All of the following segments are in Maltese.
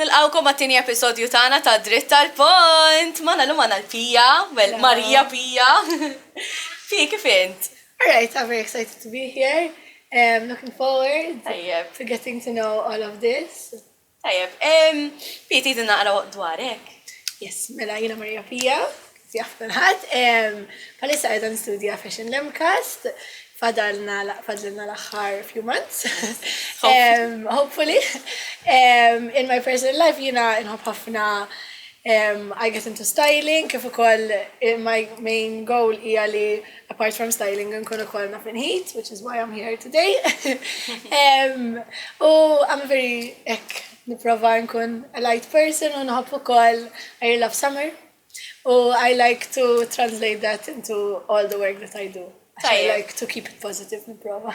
Nilqawkom għat-tieni episodju tagħna ta' Dritt tal-Pont. Mana l-lum għana l-Pija, well, Marija Pija. Fi, kif int? Alright, I'm very excited to be here. I'm um, looking forward to getting to know all of this. Tajjeb, Pia tgħidilna naqra dwar hekk. Yes, mela jiena Maria Pia, kif jaf kulħadd. Bħalissa qiegħda nistudja Fashion Lemcast, fadalna l-aħħar few months. Hopefully. In my personal life jiena nħobb ħafna I get into styling kif ukoll my main goal hija li apart from styling nkun ukoll naf heat, which is why I'm here today. U I'm very ek niprofa nkun a light person u nħobb ukoll I love summer. U I like to translate that into all the work that I do. I like to keep it positive niprofa.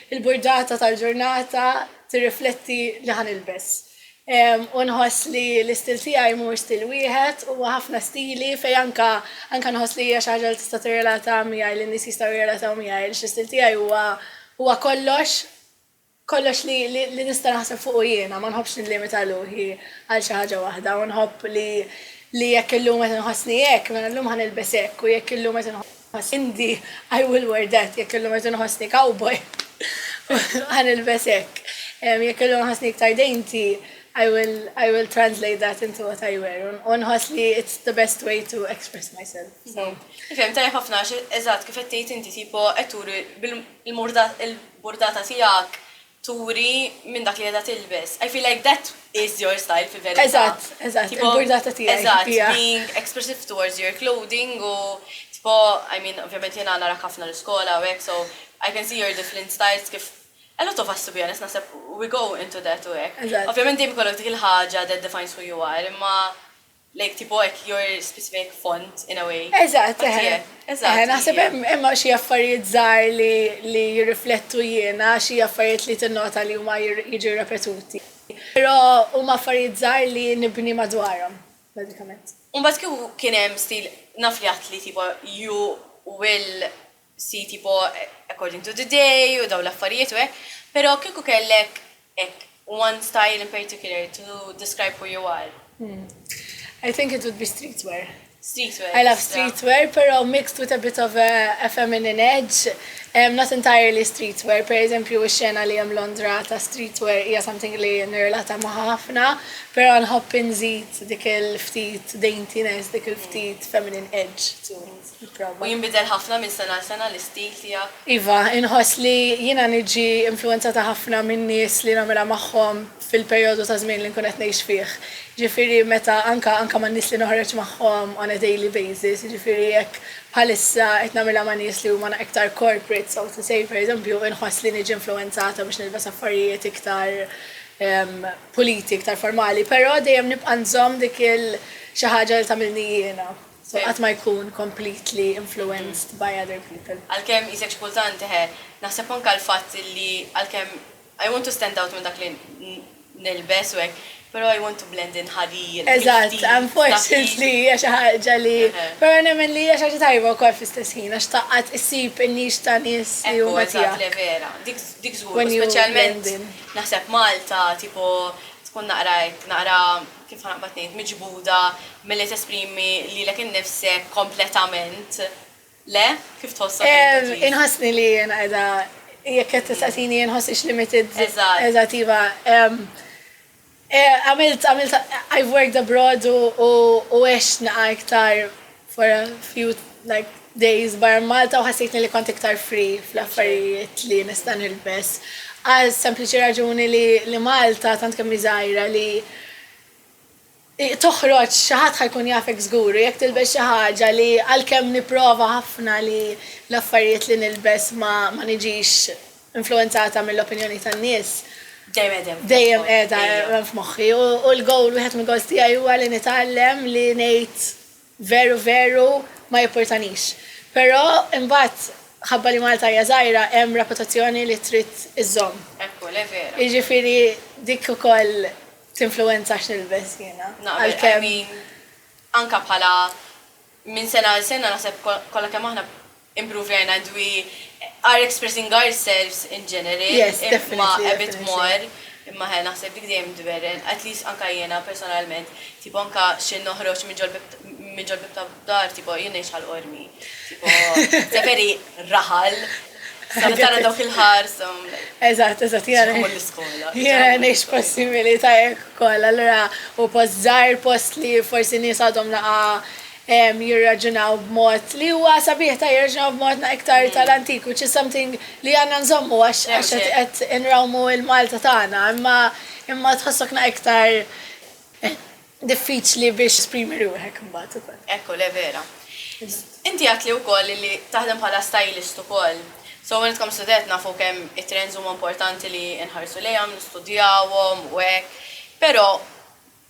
Il-burdata tal-ġurnata tirrifletti li ħa nilbes. U nħoss li l-istil tiegħi mhuwiex stil wieħed, huwa ħafna stili fejn anke anke nħoss li hija xi ħaġa li tista' tirrelata miegħi, li n-nies jistgħu jirrelataw miegħi għaliex l-istil tiegħi huwa huwa kollox kollox li li nista' naħseb fuqu jiena, ma nħobbx nillimita ruħi għal xi ħaġa waħda u nħobb li li jekk illum qed inħossni hekk, mela llum ħa nilbes hekk u jekk illum qed Ma Cindy, I will wear that, jekk illum irid inħossni cowboy, ħa nilbes hekk. Jekk illum inħossni iktar dainty, I will I will translate that into what I wear u nħoss li it's the best way to express myself. So. Ifhem tajjeb ħafna għax eżatt kif qed tgħid inti tipo qed turi bil-murda il-burdata tiegħek turi minn dak li qiegħda tilbes. I feel like that is your style fil-verità. Eżatt, eżatt, il-burdata tiegħi. Eżatt, being expressive towards your clothing u tipo, I mean, ovvjament jiena narak ħafna l-iskola u hekk, so I can see your different styles kif a lot of us to be honest, naħseb we go into that u hekk. Ovvjament dejjem ikollok dik il-ħaġa that defines who you are, imma Like tipo hekk your specific font in a way. Eżatt, Font eħe. tiegħek. Eżatt, Eħe, naħseb hija. hemm hemm xi affarijiet żgħar li li jirriflettu jiena, xi affarijiet li tinnota li huma jir- jiġu repetuti. Però huma affarijiet żgħar li nibni madwarhom, bażikament. U mbagħad kieku kien hemm stil, naf li għedt li tipo you will sit tipo according to the day u dawn l-affarijiet u hekk, pero kieku kellek hekk one style in particular to describe who you are. I think it would be streetwear. Streetwear. I love streetwear, pero mixed with a bit of a, a feminine edge. Um, not entirely streetwear, per eżempju, xena li jem Londra ta' streetwear hija something li nirrelata ma' ħafna, pero nħobb nżid dik il-ftit daintiness, dik il-ftit feminine edge. U jinbidel ħafna minn sena għal sena l-istil tiegħek? Iva, inħoss li jiena niġi influwenzata ħafna min-nies li nagħmilha magħhom fil-perjodu ta' żmien li nkun qed ngħix fih. Jiġifieri meta anke anke man-nies li noħroġ magħhom on a daily basis, jiġifieri jekk bħalissa qed nagħmilha ma' nies li huma iktar corporate, so to say, pereżempju, inħoss li niġi influwenzata biex nilbes affarijiet iktar puliti, iktar formali, però dejjem nibqa' nżomm dik il-xi ħaġa li tagħmilni jiena. u qatt ma jkun completely influenced by other people. Għalkemm hi sexpultant, eħe, naħseb anke għall-fatt li għalkemm I want to stand out minn dak li nilbes u hekk, però I want to blend in ħadid, ħfif. Eżatt, unfortunately hija xi ħaġa li, però nemmen li hija xi ħaġa tajba wkoll fl-istess ħin għax taqgħad issib in-nix ta' nies li huma tiegħek. Ekku, eżatt, le vera. Dik dik żgur, speċjalment naħseb Malta, tipo tkun naqra hekk, naqra. kif ħa naqbad ngħid, miġbuda milli tesprimi lilek innifsek kompletament, le? Kif tħossok int at least? Inħossni li jiena qiegħda jekk qed tistaqsini jien nħossix limited. Eżatt. Eżatt iva. Għamilt I've worked abroad u għext naqa' iktar for a few like days bar Malta u ħassejtni li kont iktar free fl-affarijiet li nista' nilbes. Għal sempliċi raġuni li, li Malta tant kemm żgħira li toħroġ xi ħadd ħajkun jafek żgur jekk tilbes xi ħaġa li għalkemm nipprova ħafna li l-affarijiet li nilbes ma, ma niġix influwenzata mill-opinjoni tan-nies dejjem qiegħda f'moħħi u l-gowl wieħed mill-gowls tiegħi huwa li nitgħallem li ngħid veru veru ma jippurtanix. Però imbagħad ħabba li Malta hija żgħira hemm reputazzjoni li trid iżżomm. Jiġifieri dik ukoll tinfluwenza x'nilbes jiena għalkemm. Anke bħala Minn sena għal sena naħseb kollha kemm aħna improvejna and we are expressing ourselves in general imma a bit more imma he naħseb dik dejjem tberren at least anke jiena personalment tipo anke xi noħroġ minn ġol-bieb ta' dar tipo jien ngħix Ħal Qormi tipo it's a very raħal Sabi tara dawk il-ħarsa. Eżatt, eżatt, jara. Xamu l-iskola. Jara nex possibili ta' jek kolla, l-ra u post zaħir, post li forsi nis għadhom naqa jirraġunaw b'mod li huwa sabiħ ta' jirraġunaw b'mod na' iktar mm. tal-antik, which is something li għanna nżommu għax għax għet inrawmu il-Malta tagħna, imma imma tħossok na' iktar Diffiċli biex tesprimi ruħek imbagħad ukoll. Ekku le vera. Inti għedtli wkoll li taħdem bħala stylist ukoll. So when it comes to that nafu kemm it-trends huma importanti li nħarsu lejhom, nistudjawhom u hekk. Però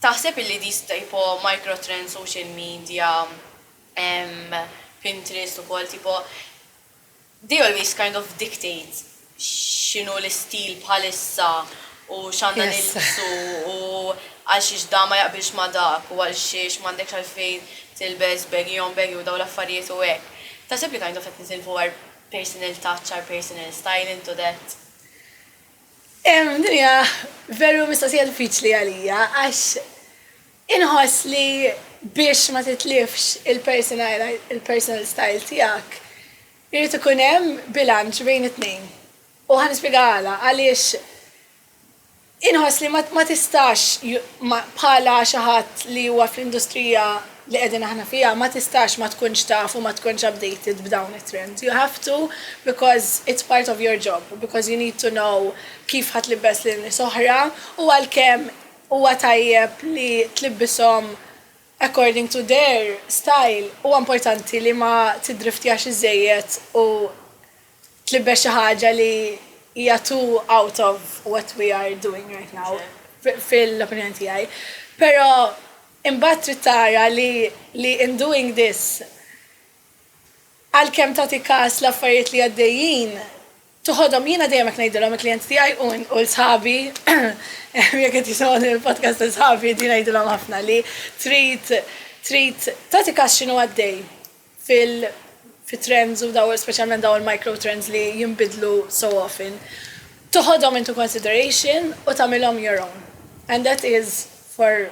taħseb illi these tipo micro trends social media, Pinterest ukoll tipo, They always kind of dictate x'inhu l-istil bħalissa u x'għandna nilbsu u għalxiex dan ma jaqbilx ma' dak u għalxiex m'għandekx għalfejn tilbes baggy on baggy u dawn l-affarijiet u hekk. Taħseb li kind of qed nitilfu our personal touch, our personal style into that? Din hija veru mistoqsija diffiċli għalija għax Inħoss li biex ma titlifx il-personal style tiegħek, irid ikun hemm bilanċ bejn it-tnejn. U ħa nispjega għala, għaliex inħoss li ma tistax bħala xi ħadd li huwa fl-industrija li qegħdin aħna fiha, ma tistax ma tkunx taf u ma tkunx updated b'dawn it-trends. You have to because it's part of your job, because you need to know kif ħa tlibbes lil nies oħra u għalkemm huwa tajjeb li tlibbishom according to their style, huwa importanti li ma tiddriftjax iżżejjed u tlibbes xi ħaġa li hija too out of what we are doing right now, fil-opinjoni tiegħi. Però imbagħad trid tara li li in doing this, għalkemm tagħti kas l-affarijiet li għaddejjin, Toħodhom, jiena dejjem hekk ngħidilhom il-klijenti tiegħi u u l-sħabi, jekk qed jisimgħu din il-podcast ta' sħabi din ngħidilhom ħafna li trid trid tagħti kas x'inhu għaddej fil fit-trends u daw speċjalment daw il-micro trends li jinbidlu so often. Toħodhom into consideration u tagħmilhom your own. And that is for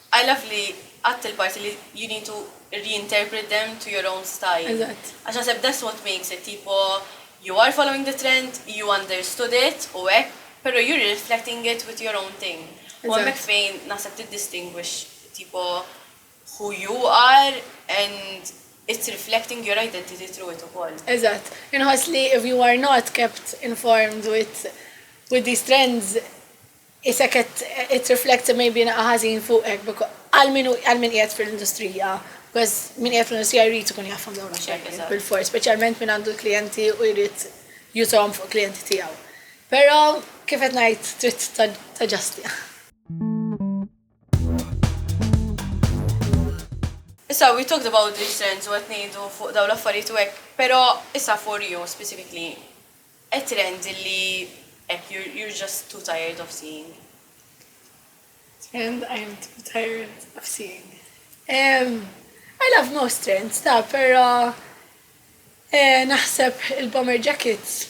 I love li għadt il-parti li you need to reinterpret them to your own style. Eżatt. Għax naħseb that's what makes it, tipo you are following the trend, you understood it u hekk, pero you're reflecting it with your own thing. U hemmhekk fejn naħseb tiddistinguish tipo who you are and it's reflecting your identity through it ukoll. Eżatt. Inħoss li if you are not kept informed with with these trends, Qisek qed tirrifletti maybe naqa' ħażin fuqek becau għal min hu għal min qiegħed fil-industrija, becaus min qiegħed fl-industrija jrid ikun jafhom dawn l-affarijiet bil-fors, speċjalment min għandu l-klijenti u jrid jużhom fuq il-klijenti tiegħu. Però kif qed ngħid trid taġġastja. Issa, we talked about these trends u qed ngħidu fuq dawn l-affarijiet u hekk, però issa for you specifically, a trend li hekk you're, you're just too tired of seeing. And I'm too tired of seeing. Um, I love most trends, ta, pero eh, naħseb il-bomber jackets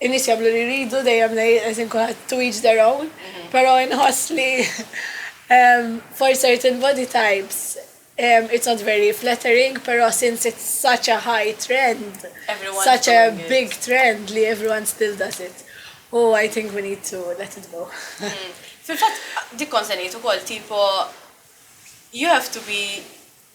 In-nies jagħmlu li jridu, dejjem ngħid as in kulħadd to each their own, però inħoss li for certain body types it's not very flattering, però since it's such a high trend, such a big trend li everyone still does it. U I think we need to let it go. Fil-fatt, dik kont se ngħid ukoll, tipo you have to be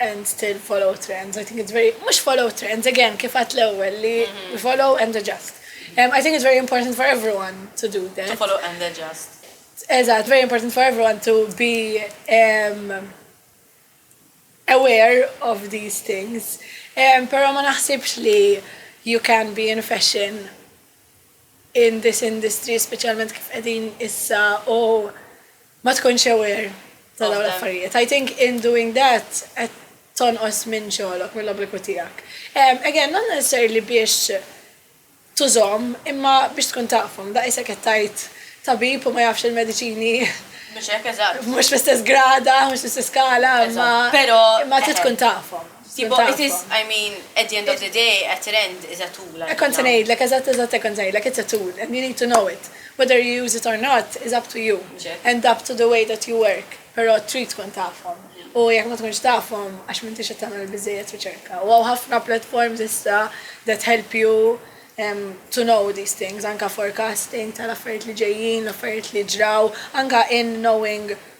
and still follow trends. I think it's very, mux follow trends, again, kif għat l-ewel li mhm. follow and adjust. Um, I think it's very important for everyone to do that. To follow and adjust. Eżat, very important for everyone to be um, aware of these things. Um, pero ma naħsibx li you can be in fashion in this industry, specialment kif edin issa u oh, ma tkunx aware ta' dawn l-affarijiet. I think in doing that qed tonqos minn xogħlok, mill-obbligu tiegħek. Again, not necessarily biex tużhom, imma biex tkun tafhom. Daqs isek qed tgħid tabib u ma jafx il-mediċini. Mhux hekk, eżatt. Mhux fl-istess grada, mhux fl-istess skala, imma. Eżatt, però. Imma trid tkun tafhom. Tipo, it is, I mean, at the end of the day, a trend is a tool. Hekk kont se ngħidlek, eżatt, eżatt hekk kont se ngħidlek, it's a tool and you need to know it. Whether you use it or not is up to you and up to the way that you work, però trid tkun tafhom. U jekk ma tkunx tafhom, għax m'intix qed tagħmel biżejjed riċerka. U hawn ħafna platforms issa that help you um, to know these things, anka forecasting tal-affarijiet li ġejjin, l-affarijiet li ġraw, anka in knowing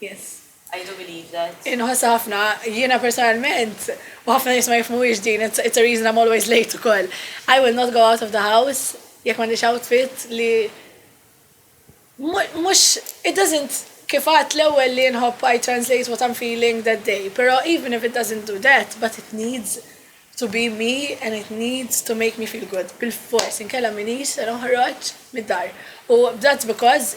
Yes. I do believe that. Inħossa ħafna, jiena personalment, u ħafna nisma jifmuwix din, it's, it's a reason I'm always late ukoll. I will not go out of the house jekk m'għandix outfit li mhux it doesn't kif għat l-ewwel li nħobb I translate what I'm feeling that day, però even if it doesn't do that, but it needs to be me and it needs to make me feel good. Bil-fors, inkella minix se noħroġ mid-dar. U that's because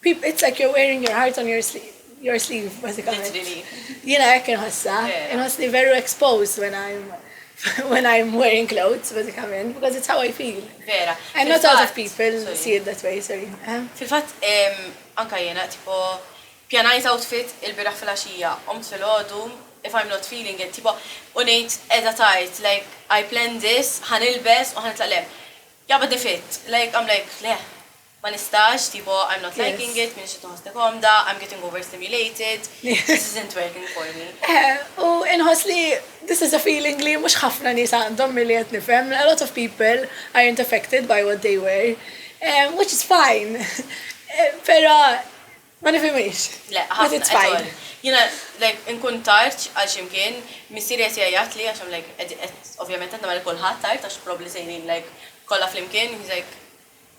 Peep, it's like you're wearing your heart on your your sleeve, basikament. Jina jek nħossa, nħoss li veru exposed when I'm when I'm wearing clothes, basikament, because it's how I feel. Vera. And not a lot of people sorry. see it that way, sorry. Eh? Fil-fat, anka jena, tipo, pjanajt outfit il-biraħ fil-axija, omt fil-ħodu, if I'm not feeling it, tipo, unajt edha tajt, like, I plan this, ħanilbes, u ħanitlaqlem. Jabba defit, like, I'm like, leh, Ma nistax, tipo, I'm not liking it, m'iniex qed inħossni komda, I'm getting overstimulated, this isn't working for me. Eħe, u inħoss li this is a feeling li mhux ħafna nies għandhom milli qed nifhem, a lot of people aren't affected by what they wear, which is fine, però ma nifhimhiex, but it's fine. Jiena, like, inkun tard għal xi mkien, missieri qed jgħajjatli għax I'm like, ovvjament qed nagħmel lil kulħadd tard għax probably sejrin, like, kollha flimkien, he's like,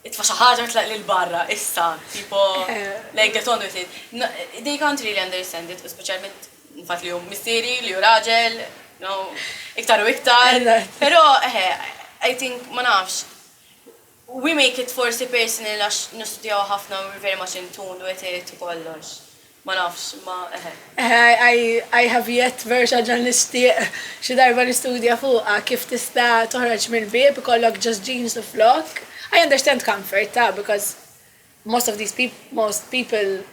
Itfa' xi ħaġa u tlaq lil barra, issa, tipo, like get on with it. They can't really understand it u speċjalment l-fatt li hu missieri, li hu raġel, no, iktar u iktar. Però, eħe, I think, ma nafx, we make it forsi personal għax nistudjaw ħafna u we're very much in tune with it u kollox. Ma nafx, imma eħe. Eħe, I have yet, veru xi ħaġa li nixtieq xi darba nistudja fuqha, kif tista' toħroġ mill-bieb ikollok just jeans u flokk. I understand comfort, ta, because most of these people, most people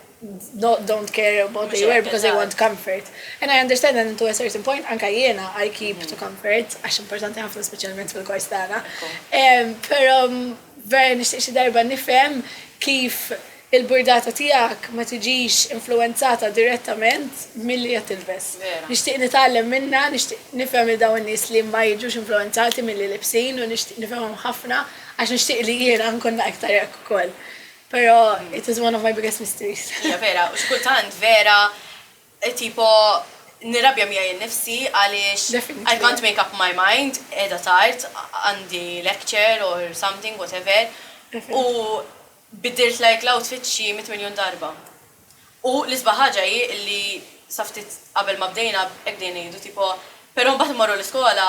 don't care what they wear because they want comfort. And I understand and to a certain point anke jiena I keep to comfort għax importanti ħafna speċjalment fil-kors tagħna. Però Vera nixtieq xi darba nifhem kif il-burdata tiegħek ma tiġix influwenzata direttament milli qed tilbes. Nixtieq nitgħallem minnha, nixtieq nifhem 'il dawn in-nies li ma jiġux influwenzati milli libsin u nixtieq nifhimhom ħafna għax nixtieq li jiena nkun na iktar hekk ukoll. Però it is one of my biggest mysteries. Hija vera u xi kultant vera Tipo, nirrabja miegħi nnifsi għaliex I can't make up my mind, qiegħda tard, għandi lecture or something, whatever, u biddilt like l-outfit xi mitt miljun darba. U l-isbaħ ħaġa hi li sa ftit qabel ma bdejna hekk bdejna ngħidu, tipo, però mbagħad immorru l-iskola,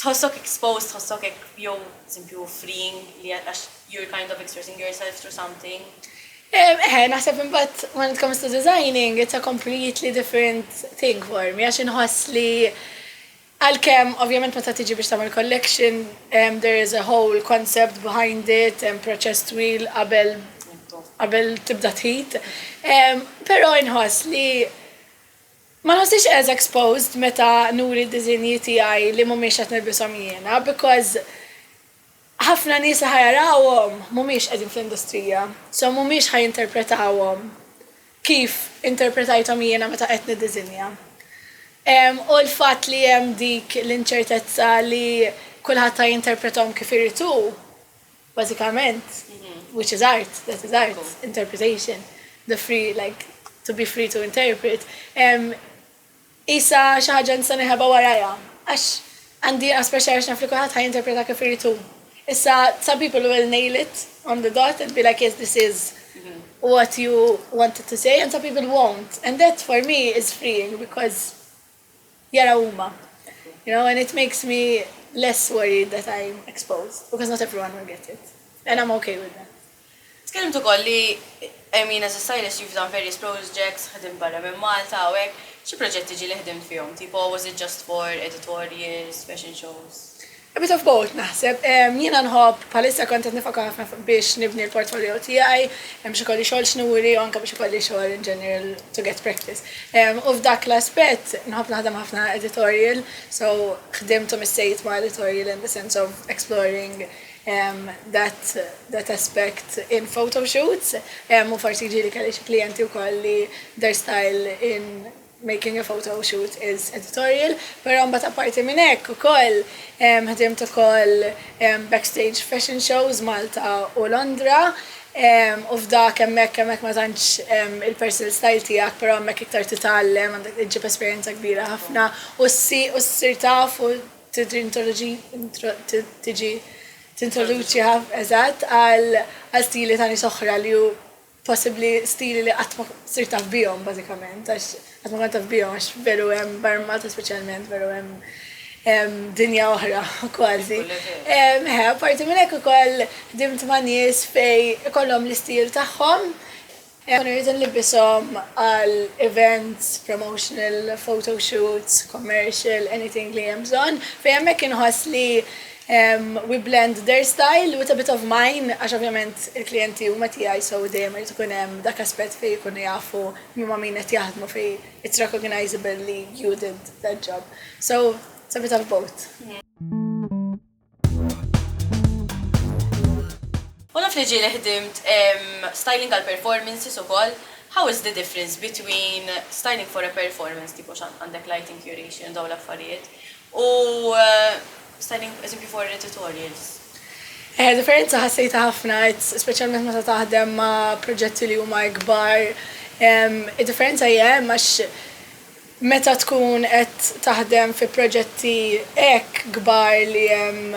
Tħossok exposed, tħossok hekk jew pereżempju freeing li għax you're kind of expressing yourself through something? Eħe, naħseb imbagħad when it comes to designing, it's a completely different thing for me għax inħoss li għalkemm ovvjament meta tiġi biex tagħmel collection there is a whole concept behind it, hemm proċess twil qabel qabel tibda tħit. Però inħoss li Ma nħossix as exposed meta nuri d-diżinji tiegħi li mhumiex qed nilbishom jiena because ħafna nies li ħa jarawhom mhumiex qegħdin fl-industrija so mhumiex ħa jinterpretawhom kif interpretajthom jiena meta qed niddiżinja. U l-fatt li hemm dik l-inċertezza li kulħadd ħa jinterpretom kif irid hu, Bażikament, which is art, that is art, interpretation, the free, like, to be free to interpret, isa xaħġa nista neħeba waraja. Għax għandi għas pressure għax nafli kuħat ħaj interpreta kif irritu. Issa, some people will nail it on the dot and be like, yes, this is what you wanted to say, and some people won't. And that for me is freeing because jaraw huma. You know, and it makes me less worried that I'm exposed, because not everyone will get it. And I'm okay with that. Tkellimt ukoll li, I mean, as a stylist you've done various projects, ħdimt barra minn Malta u hekk, xi proġetti ġieli ħdimt fihom, tipo was it just for editorials, fashion shows? A bit of both naħseb. Jiena nħobb, bħalissa kont qed nifoka ħafna fuq biex nibni l-portfolio tiegħi, biex ikolli xogħol x'nuri u anke biex ikolli xogħol in general to get practice. U f'dak l-aspett nħobb naħdem ħafna editorial, so ħdimt u missejt ma' editorial in the sense of exploring that that aspect in photoshoots u forsi ġieli kelli xi klijenti wkoll li their style in Making a photo shoot is editorial, però mbagħad apparti minn hekk ukoll ħdimt ukoll backstage fashion shows Malta u Londra u f'dak hemmhekk hemmhekk ma tantx il-personal style tiegħek però hemmhekk iktar titgħallem għandek iġġib esperjenza kbira ħafna u ssir taf u tiġi tintroduċi eżatt għal stili ta' nies oħra li possibbli stili li qatt ma sir taf bihom bażikament, għax qatt ma kont taf bihom għax veru hemm barmat speċjalment veru hemm dinja oħra kważi. Meħe, parti minn hekk ukoll dimt ma' nies fej ikollhom l-istil tagħhom. Kunu rridu nlibisom għal events, promotional, photo shoots, commercial, anything li hemm bżonn, fej hemmhekk inħoss li We blend their style with a bit of mine għax ovvjament il-klijenti huma tiegħi so dejjem irid ikun hemm dak aspett fejn ikunu jafu min ma' min qed jaħdmu fejn it's recognisable li you did that job. So it's a bit of both. U naf li ġieli ħdimt styling għal performances ukoll, how is the difference between styling for a performance tipo x'għandek lighting curation u dawn l-affarijiet U standing as if you for editorials? Eh, differenza ħassejta ħafna, speċjalment meta taħdem ma' proġetti li huma ikbar. Id-differenza hija hemm għax meta tkun qed taħdem fi proġetti hekk kbar li hemm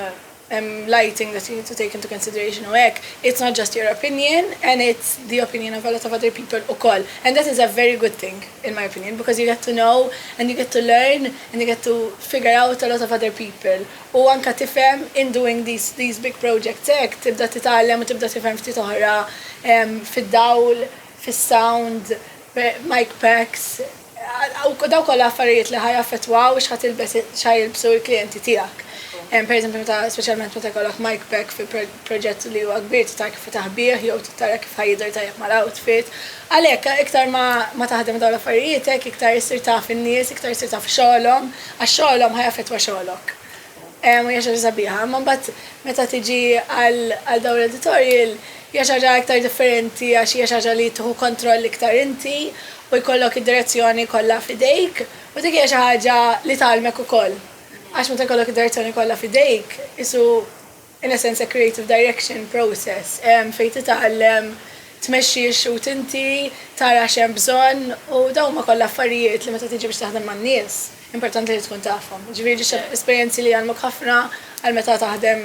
hemm lighting that you need to take into consideration u hekk, it's not just your opinion and it's the opinion of a lot of other people ukoll and that is a very good thing in my opinion because you get to know and you get to learn and you get to figure out a lot of other people u anke tifhem in doing these these big projects hekk tibda titgħallem u tibda tifhem ftit oħra fid-dawl, fis-sound, mic packs. U daw kollha affarijiet li ħajaffettwaw x'ħa tilbes x'ħa jilbsu l-klijenti tiegħek. Pereżempju meta speċjalment meta jkollok mic pack fi proġett li huwa kbir titara kif itaħbih jew titara kif ħa jidher tajjeb mal-outfit. Għalhekk iktar ma ma taħdem daw l-affarijiet hekk iktar issir taf in-nies, iktar issir taf xogħolhom, għax xogħolhom ħa jaffettwa xogħlok. u hija xi ħaġa sabiħa, imma mbagħad meta tiġi għal għal dawn l-editorial hija xi ħaġa iktar differenti għax hija xi ħaġa li tieħu kontroll iktar inti u jkollok id-direzzjoni kollha f'idejk u dik hija xi ħaġa li tgħallmek ukoll għax meta jkollok id-direzzjoni kollha f'idejk qisu In essenza creative direction process fejn titgħallem tmexxi x-xhud inti, tara x'hemm bżonn u dawn huma kollha affarijiet li meta tiġi biex taħdem man-nies importanti li tkun tafhom. Jiġifieri esperjenzi li jgħallmuk ħafna għal meta taħdem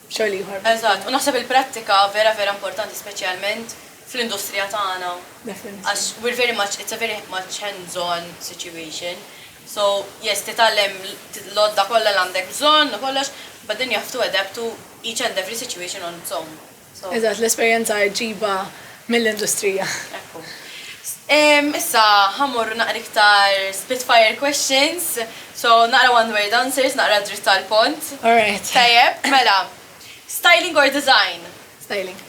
xogħol ieħor. Eżatt, u naħseb il-prattika vera vera importanti speċjalment fl-industrija tagħna għax we're very much, it's a very much hands on situation so yes titgħallem l-għodda kollha li għandek bżonn u kollox but then you have to adapt to each and every situation on its own. Eżatt, l-esperjenza ġġibha mill-industrija. Ekku. Issa ħammorru naqra iktar spitfire questions, so naqra one word answers, naqra dritt tal-pont. Alright. Tajjeb, mela. Styling or design? Styling.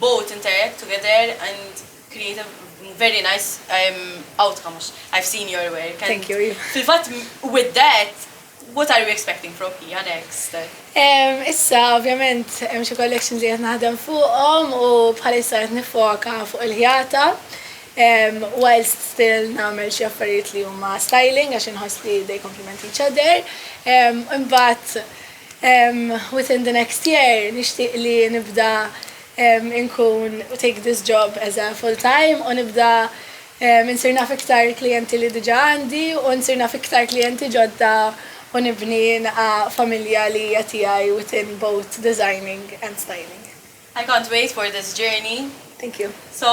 both interact together and create a very nice um, outcome għax I've seen your work. And Thank you, Iva. Fil-fatt, with that, what are we expecting from Pia next? Um, issa, ovvjament, hemm xi collections li qed naħdem fuqhom u bħalissa qed nifoka fuq il-ħjata. Um, whilst still namel xi affarijiet li huma styling għax inħoss li they complement each other. Um, imbagħad within the next year nixtieq li nibda inkun take this job as a full time u nibda insir naf iktar klijenti li diġa għandi u nsir naf iktar klijenti ġodda u nibni nqa familja li hija tiegħi within both designing and styling. I can't wait for this journey. Thank you. So,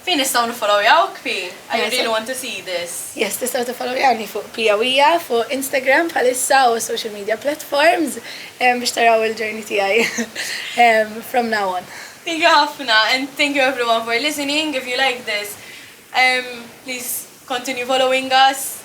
fejn nistgħu niffollowjawk Pi? I really want to see this. Yes, tistgħu tiffollowjawni fuq Pia Wija fuq Instagram bħalissa u social media platforms biex taraw il-journey tiegħi from now on. Thank you ħafna and thank you everyone for listening. If you like this, um, please continue following us.